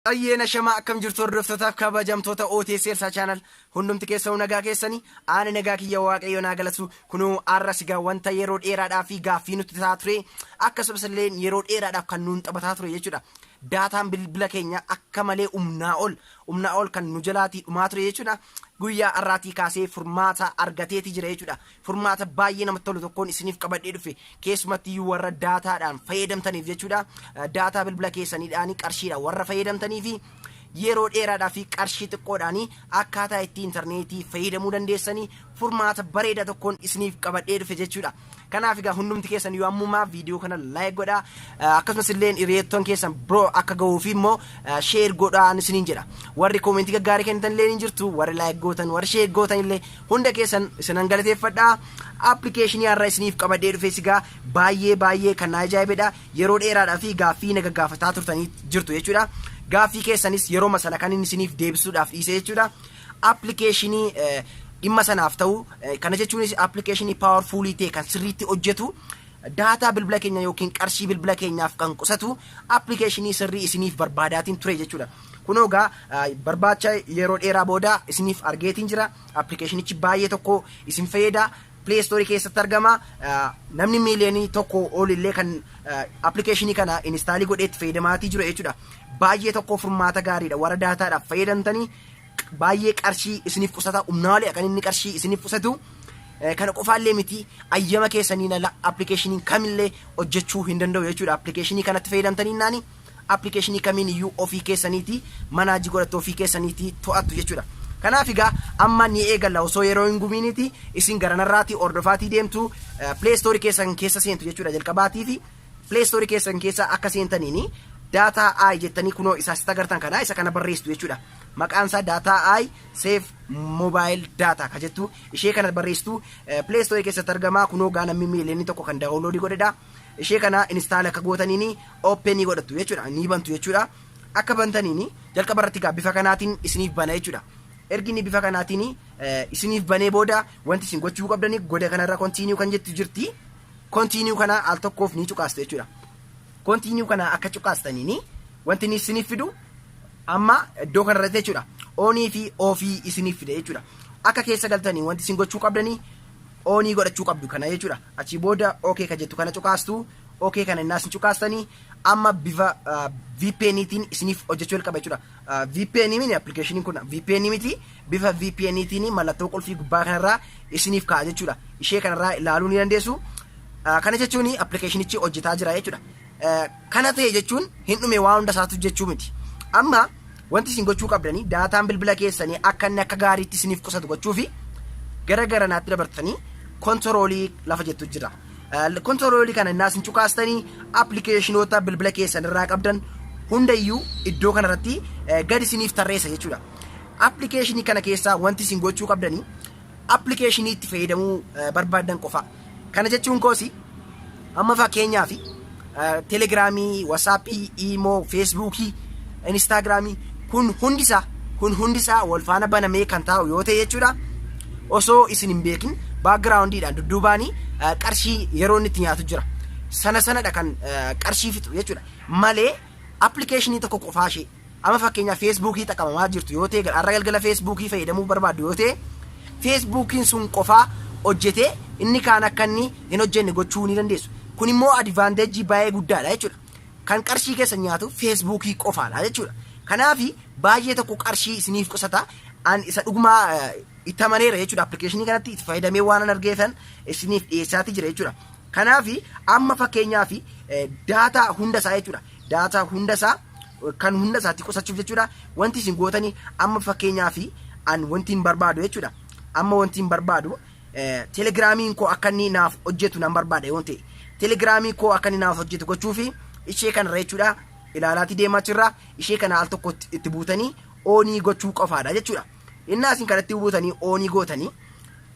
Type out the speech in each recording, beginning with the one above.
Ayyeena shamaa akkam jirtu hordoftootaaf kabajamtoota OTS Elsaa Channel hundumti keessanuu nagaa keessanii aana nagaa kiyya waaqayyo naa galatu kunuu arra sigaa wanta yeroo dheeraadhaa fi gaaffii nutti ta'a ture akkasumas illee yeroo dheeraadhaaf kan nuun taphataa ture jechuudha. Daataan bilbila keenya akka malee humnaa ol humnaa ol kan nu jalaatii dhumaa ture jechuudha. Guyyaa har'aatii kaasee furmaata argateeti jira jechuudha. Furmaata baay'ee namatti tolu tokkoon isiniif qabadhee dhufe. Keessumatti iyyuu warra daataadhaan fayyadamtaniif jechuudha. Daataa bilbila keessaniidhaan qarshiidhaan warra fayyadamtanii fi yeroo dheeraadhaa fi qarshii xiqqoodhaan akkaataa itti intarneetii fayyadamuu dandeessanii furmaata bareedaa tokkoon isiniif qabadhee dhufe jechuudha. Kanaaf egaa hundumti keessan yoo ammumaa viidiyoo kana like godhaa Eh, akkasumas illee hiriyoottan keessan biroo akka gahuu fi immoo eh, share godhaa isiniin jedha warri koomentii gaggaarii kennitan illee ni jirtu warri like gootan warri share gootan illee hunda keessan isinan galateeffadha appilikeeshinii har'a isiniif qabadhee dhufee sigaa baay'ee baay'ee kan na ajaa'ibedha yeroo dheeraadhaa fi gaaffii na gaggaafataa turtanii jirtu jechuudha gaaffii keessanis yeroo masana kan inni isiniif deebisuudhaaf dhiise jechuudha Appilikeeshinii dhimma sanaaf ta'u kana jechuunis appilikeeshinii paawarfuulii ta'e kan sirriitti hojjetu daataa bilbila keenya yookiin qarshii bilbila keenyaaf kan qusatu appilikeeshinii sirrii isiniif barbaadaatiin ture jechuudha. Kunoo egaa barbaacha yeroo dheeraa booda isiniif argeetiin jira. Appilikeeshinichi baay'ee tokko isin fayyada. Play Store keessatti argama. Namni miiliyoonii tokko ol illee kan appilikeeshinii kana inistaalii godhee itti fayyadamaatii jiru jechuudha. Baay'ee tokko furmaata gaariidha. Warra daataadhaaf fayyadamtanii baay'ee qarshii isiniif qusata umnaalee kan inni qarshii isiniif qusatu kana qofaallee miti ayyama keessaniin ala appilikeeshiniin kamillee hojjechuu hin danda'u jechuudha appilikeeshinii kanatti fayyadamtanii naani appilikeeshinii kamiin iyyuu ofii keessaniiti manaajii godhattu ofii keessaniiti to'attu jechuudha. Kanaaf egaa amma ni eegalla osoo yeroo hin gubiiniti isin garanarraati hordofaatii deemtu pileestoorii keessan keessa seentu jechuudha jalqabaatiifi Play Store keessan keessa akka seentaniin data i jettanii kunoo isa asitti agartan kana isa kana barreessitu jechuudha. Maqaan isaa data i save mobile data ka jettu ishee kana barreessitu Play Store keessatti argama kunoo gaa namni miiliyoonni tokko kan daawunloodii godhedha. Ishee kana instaala akka gootaniin ooppenii godhattu jechuudha ni bantu jechuudha. Akka bantaniin jalqaba irratti gaa bifa kanaatiin isiniif bana jechuudha. ergi inni bifa kanaatiin isiniif banee booda wanti isin gochuu qabdanii goda kanarra kontiiniyuu kan jettu jirti. Continue kana al tokkoof ni cuqaastu jechuudha. Continue kana akka cuqaastaniin wanti inni isiniif fidu amma iddoo kanarratti jechuudha. Onii fi ofii isiniif fida jechuudha. Akka keessa galtanii wanti isin gochuu qabdanii onii godhachuu qabdu kana jechuudha. Achii booda OK ka jettu kana cuqaastu OK kana innaas hin cuqaastanii amma bifa VPNitiin isiniif hojjechuu jalqaba jechuudha. VPN mini appilikeeshiniin kun VPN miti bifa VPN tiin mallattoo qulfii gubbaa kanarraa isiniif ka'a jechuudha. Ishee kanarraa ilaaluu ni dandeessu. Kana jechuun appilikeeshinichi hojjetaa jira jechuudha. Kana ta'e jechuun hin dhume waan hunda isaatu jechuu miti. Amma wanti isin gochuu qabdanii daataan bilbila keessanii akka inni akka gaariitti isiniif qusatu gochuu fi gara garanaatti dabartanii kontoroolii lafa jettu jira. Kontiroolii kana innaa isin cuqaastanii appilikeeshinoota bilbila keessan irraa qabdan hundayyuu iddoo kanarratti gad isiniif tarreessa jechuudha. Appilikeeshinii kana keessaa wanti isin gochuu qabdanii appilikeeshinii itti fayyadamuu barbaaddan qofa. Kana jechuun koosi amma fakkeenyaaf telegiraamii, wasaappii, iimoo, feesbuukii, inistaagiraamii kun hundisaa kun hundisaa wal faana banamee kan taa'u yoo ta'e jechuudha. Osoo isin hin beekin baakgiraawundiidhaan dudduubaanii qarshii yeroo inni itti nyaatu jira. Sana sanadha kan qarshii fixu jechuudha. Malee appilikeeshinii tokko qofaa ishee Ama fakkeenyaaf feesbuukii xaqamamaa jirtu yoo ta'e har'a galgala feesbuukii fayyadamuu barbaaddu yoo ta'e feesbuukiin sun qofaa hojjetee inni kaan akka inni hin hojjenne gochuu ni dandeessu. Kun immoo adivaanteejii baay'ee guddaadha jechuudha. Kan qarshii keessan nyaatu feesbuukii qofaadha jechuudha. Kanaaf baay'ee tokko qarshii isiniif qusata. An isa dhugumaa itti amaneera jechuudha. Appilikeeshinii kanatti itti fayyadamee waan an argeetan isiniif dhiyeessaati jira jechuudha. Kanaaf amma fakkeenyaaf daataa hunda isaa jechuudha. Daataa hunda isaa kan hunda isaatti qusachuuf jechuudha. Wanti isin gootanii amma fakkeenyaaf an wanti hin barbaadu jechuudha. Amma wanti hin barbaadu telegiraamiin koo akka inni naaf hojjetu nan barbaada yoo ta'e. Telegiraamii koo akka inni naaf hojjetu gochuu fi ishee kanarra jechuudha. Ilaalaatii deemaa jirra. Ishee kana al tokko itti buutanii oonii gochuu qofaadha jechuudha. Innaa isin kanatti buutanii oonii gootanii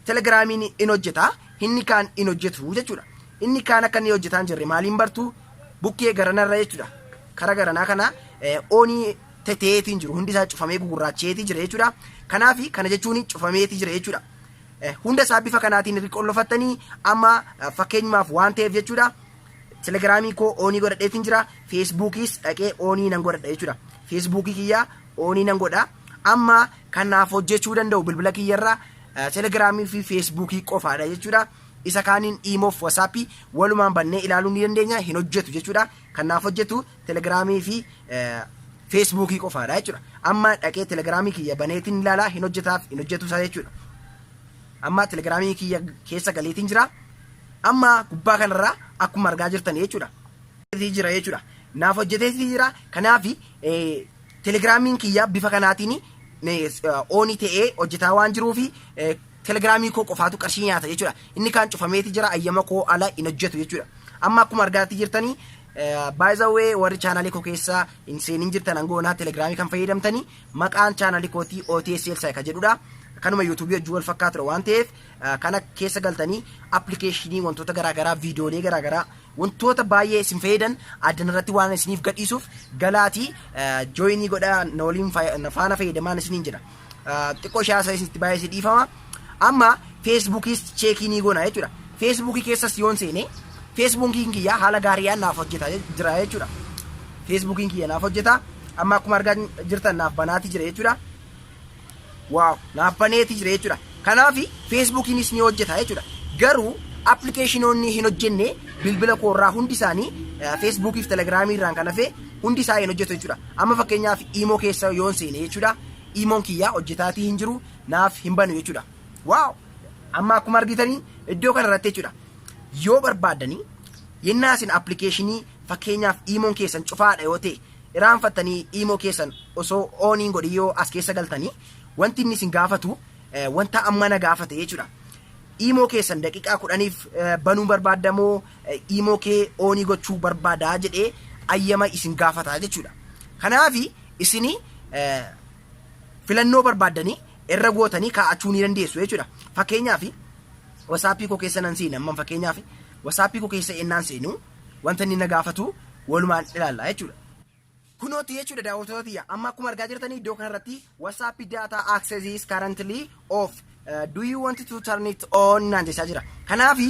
Telegramiin in hojjeta, inni kaan in hojjetu jechuudha. Inni kaan akka inni hojjetaan jirre maaliin bartu bukkee garanarra jechuudha. Kara garanaa kana oonii teteetiin jiru hundi isaa cufamee gugurraacheetii jira jechuudha. Kanaaf kana jechuun cufameetii jira jechuudha. Hunda isaa bifa kanaatiin irri qollofattanii amma fakkeenyumaaf waan ta'eef jechuudha. Telegiraamii koo oonii godhadheetiin jira. Feesbuukiis dhaqee oonii nan godhadha jechuudha. Feesbuukii kiyyaa oonii nan godha. Amma kanaaf hojjechuu danda'u bilbila kiyyarraa Telegiraamii fi Feesbuukii qofaadha jechuudha. Isa kaaniin iimoof wasaappii walumaan bannee ilaaluu ni dandeenya hin hojjetu jechuudha. Kanaaf hojjetu telegiraamii fi feesbuukii qofaadha jechuudha. Amma dhaqee telegiraamii kiyya baneetiin ilaalaa hin hojjetaaf hin hojjetu isaa jechuudha. Amma telegiraamii kiyya keessa galeetiin jira. Amma gubbaa kanarraa akkuma argaa jirtan jechuudha. Jira jechuudha. Naaf hojjeteetii jira. Kanaaf Telegiraamiin kiyya bifa kanaatiin ooni ta'ee hojjetaa waan jiruu fi telegiraamii koo qofaatu qarshii nyaata jechuudha. Inni kaan cufameeti jira ayyama koo ala hin hojjetu jechuudha. Amma akkuma argaatti jirtanii baay'izawee warri chaanaalii koo keessa hin seenin jirtan hangoonaa telegiraamii kan fayyadamtanii maqaan chaanaalii kootii OTSL Saayika jedhudha. Kanuma yuutuubii hojii wal fakkaatudha waan ta'eef kana keessa galtanii appilikeeshinii wantoota garaagaraa viidiyoolee garaagaraa wantoota baay'ee isin fayyadan addan irratti waan isiniif gadhiisuuf galaatii jooyinii godhaa na waliin faana fayyadamaan isiniin jira. Xiqqoo shaasa isinitti baay'ee isin dhiifama. Amma feesbuukiis cheekii ni goona jechuudha. Feesbuukii keessas yoon seene feesbuukiin kiyya haala gaariidhaan naaf hojjeta jira jechuudha. Feesbuukiin kiyya naaf hojjeta amma akkuma argaa jirtan naaf banaati jira jechuudha. Wow, naaf baneeti jira jechuudha. Kanaaf Feesbuukiinis ni hojjeta jechuudha. Garuu appilikeeshinoonni hin hojjenne bilbila koorraa hundi isaanii Feesbuukiif Telegiraamii irraan kan hafe hundi isaa hin hojjetu jechuudha. Amma fakkeenyaaf iimoo keessa yoon seene jechuudha. Iimoon kiyyaa hojjetaatii hin jiru naaf hin banu jechuudha. Wow! Amma akkuma argitanii iddoo kana irratti jechuudha. Yoo barbaaddanii yennaa isin appilikeeshinii fakkeenyaaf iimoon keessan cufaadha yoo ta'e Iraanfattanii iimoo keessan osoo oon hin godhin yoo as keessa galtanii wanti inni isin gaafatu eh, wanta amma na gaafate jechuudha. Iimoo keessan daqiiqaa kudhaniif eh, banuu barbaadda moo eh, iimoo kee oonii gochuu barbaadaa jedhee ayyama isin gaafata jechuudha. Kanaaf isin eh, filannoo barbaaddanii irra gootanii kaa'achuu ni dandeessu jechuudha. Fakkeenyaaf wasaappii koo keessa nan seena amman fakkeenyaaf wasaappii koo keessa ennaan seenu wanta inni na gaafatu walumaan ilaalla jechuudha. Kunooti jechuudha daawwattoota tiyya. Amma akkuma argaa jirtan iddoo kanarratti WhatsApp data access is currently off. Uh, do you want to turn it on naan jechaa jira. Kanaafi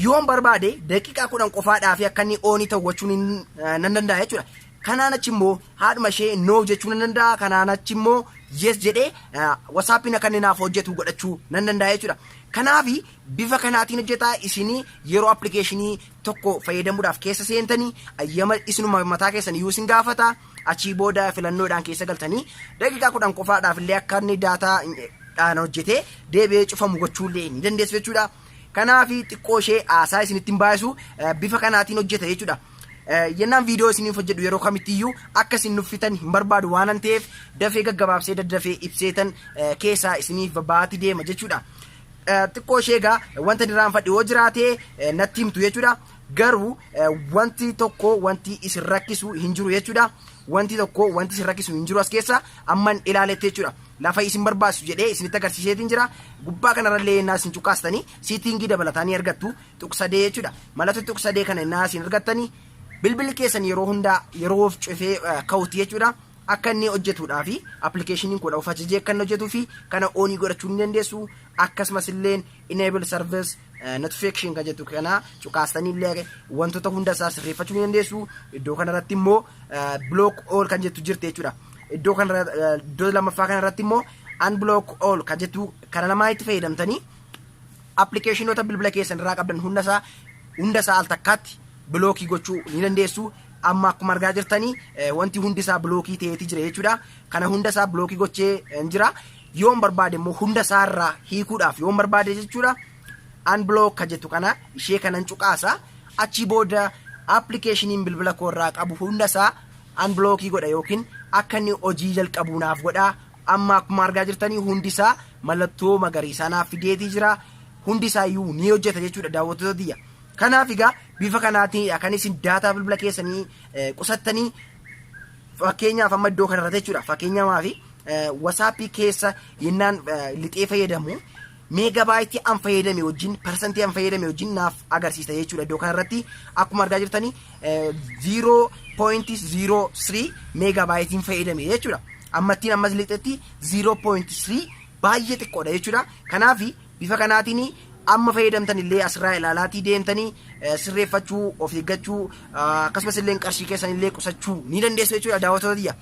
yoon barbaade daqiiqaa kudhan qofaadhaa fi akka inni oonii ta'uwachuun nan danda'a jechuudha. Kanaan achi immoo haadhuma ishee noo jechuu nan danda'a. Kanaan achi immoo yes jedhee uh, WhatsAppiin akka inni naaf hojjetu godhachuu nan danda'a jechuudha. Kanaafi Bifa kanaatiin hojjetaa isinii yeroo applicationii tokko fayyadamuudhaaf keessa seentanii ayyama isinuma mataa keessan iyyuu isin gaafata achii booda filannoodhaan keessa galtanii daqiiqaa kudhan qofaadhaaf illee akka inni daataa dhaan hojjetee deebi'ee cufamu gochuu illee ni dandeessu jechuudha. Kanaaf xiqqoo ishee haasaa isinitti hin baay'isu bifa kanaatiin hojjeta jechuudha. Yennaan viidiyoo isiniif hojjedhu yeroo kamitti iyyuu akka isin nuffitan hin barbaadu waanan ta'eef dafee gaggabaabsee daddafee ibseetan keessaa isiniif babaati deema jechuudha. xiqqoo ishee egaa wanta diraanfadhe yoo jiraate natti himtu jechuudha. Garuu wanti tokko wanti isin rakkisu hin jiru jechuudha. Wanti tokko wanti isin rakkisu hin jiru as keessa amman ilaaletti jechuudha. Lafa isin barbaachisu jedhee isinitti agarsiiseetiin jira. Gubbaa kanarrallee innaa isin cuqqaastanii siitingii dabalataa ni argattu tuqsadee jechuudha. Mallattoo tuqsadee kana innaa isin argattanii bilbilli keessan yeroo hundaa yeroo of cufee ka'utti jechuudha. akka inni hojjetuudhaaf application kudha of ajajee akka inni hojjetuu fi kana oonii godhachuu ni dandeessu akkasumas illee enable service eh, notification kan jettu kana cuqaastanii illee wantoota hunda isaa sirreeffachuu ni dandeessu iddoo kana irratti immoo eh, block all kan jettu jirti jechuudha iddoo kana irra- eh, iddoo lammaffaa kana irratti immoo unblock all kan jettu kana lamaan itti fayyadamtanii appilikeeshinoota bilbila keessan irraa qabdan hundasaa hundasaa al takkaatti bilookii gochuu ni dandeessu Amma akkuma argaa jirtanii wanti hundi isaa bilookii ta'eeti jira jechuudha. Kana hunda isaa bilookii gochee hin jira. Yoon barbaade immoo hunda isaa irraa hiikuudhaaf yoon barbaade jechuudha. Unblock ka jettu kana ishee kanan cuqaasa. Achii booda appilikeeshiniin bilbila koo irraa qabu hunda isaa unblockii godha yookiin akka inni hojii jalqabuu naaf godha. Amma akkuma argaa jirtanii hundi isaa mallattoo magariisaa naaf fideetii jira. Hundi isaa iyyuu ni hojjeta jechuudha daawwattoota tiyya. Kanaaf egaa bifa kanaatiin kan isin daataa bilbila keessanii eh, qusattanii fakkeenyaaf amma iddoo kanarratti jechuudha fakkeenyamaa fi wasaappii keessa yennaan eh, lixee fayyadamu meegabaayitii an fayyadame wajjin parsantii an fayyadame wajjin naaf agarsiisa jechuudha iddoo kanarratti akkuma argaa jirtanii eh, 0.03 meegabaayitiin fayyadame jechuudha ammattiin ammas lixetti 0.3 baay'ee xiqqoodha jechuudha kanaafi Bifa kanaatiin amma fayyadamtan illee asirraa ilaalaatii deemtanii sirreeffachuu, of eeggachuu, akkasumas illee qarshii keessan illee qusachuu ni dandeessu jechuudha daawwattoota tiyya.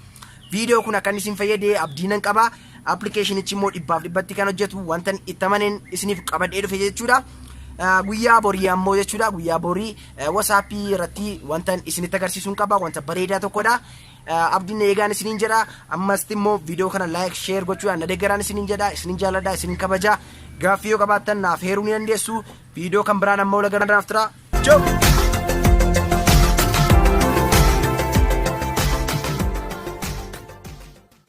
Viidiyoo kun akka inni isin fayyade abdii nan qaba. Appilikeeshinichi immoo dhibbaaf dhibbatti kan hojjetu wanta itti amaneen isiniif qabadhee dhufe jechuudha. Guyyaa borii ammoo jechuudha guyyaa borii wasaappii irratti wanta isinitti agarsiisuun qaba wanta bareedaa tokkodha. abdin eegaan isiniin jedha ammasti immoo viidiyoo kana laayik sheer gochuudhaan na deeggaraan isiniin jedha isiniin jaalladha isiniin kabaja gaaffii yoo qabaattan naaf heeruu ni dandeessu viidiyoo kan biraan amma walagaa naaf tura Ciao!